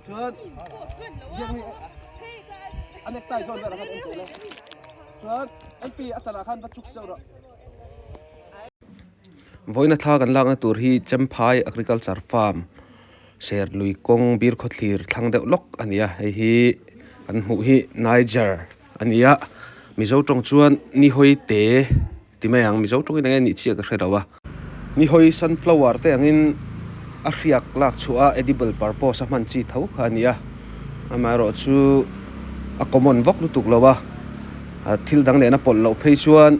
chuan biakni a nectie zawn ber ah khan en teh le chuan mp a chanah khan va chuk seuh rawh. Vawina thla kan lakna tur hi Champhai Agriculture Farm Ser Lui kawng bir khaw thlir thlang deuh lawk a ni a, hei hi kan hmuh hi Niger a ni a, Mizo tawng chuan Nihoite. Ti mai ang, Mizo tawngin eng nih chi a ka hre lo a. Nihawi sunflower te angin a hriak lak chhuah a, edible purpose a hman chi tho kha a ni a. Amaherawh chu a common vak lutuk lo a, thil dang nena pawlh loh phei chuan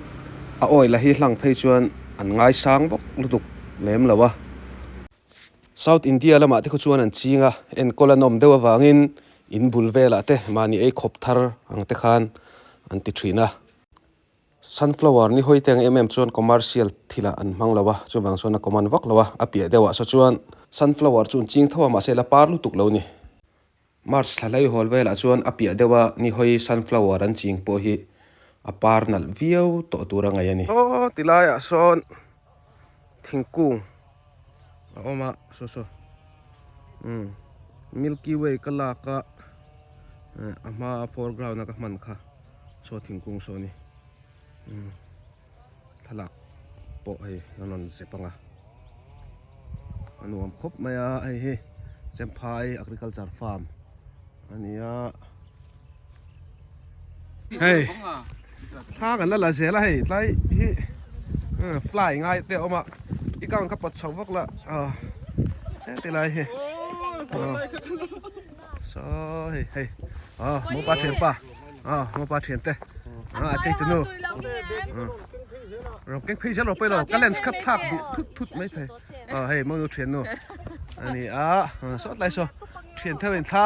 a oil a hi hlang phei chuan an ngaisang vak lutuk lem lo a. South India lamah te khaw chuan an ching a, en kawla nawm deuh avangin in bul velah te mahni ei khawp thar ang te khan an ti thin a. Sunflower ni hawite ang em em chuan commercial thilah an hmang lo a, chuvang chuan a common vak lo a, a piah deuh ah saw chuan. Sunflower chu ching tho a mahse la par lutuk lo ni. March thla hlei hawl velah chuan a piah deuh a ni hawi sunflower an ching pawh hi a par nalh viau tawh tur a ngaih a ni. Hawti laiah sawn. thingkung a awm a saw saw umm milky way ka lak a eh a hma a foreground a ka hman kha saw thingkung saw ni umm thlalak pawh hei a rawn ze pang a a nuam khawp mai a hei hi Cempha agriculture farm a ni a. Hey, tha kan la la zela hei tlai hi eh, fly ngai te oma i kang ka pat chau vak la a ah, eh, te lai hi so hei hei a ah, mo pa thian pa a ah, mo pa thian te a a chei tunu ro keng phei zel ro pe lo ka lens khat thak du thut thut mai thai a hei mo nu thian nu ani a sot lai so thian thawin tha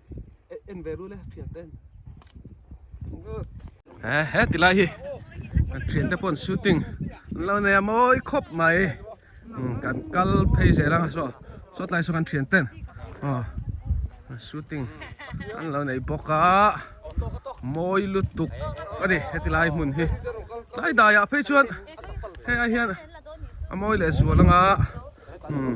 en ve run e thian ten he he ti lai hi kan thian te pon shooting lo nei a mawi khawp mai hmm, kan kal phei zeh rang so so tlai so kan thian ten oh shooting an lo nei bawk a mawi lutuk ani heti lai hmun hi tlai dai a phei chuan he a hian a mawi leh zual anga hmm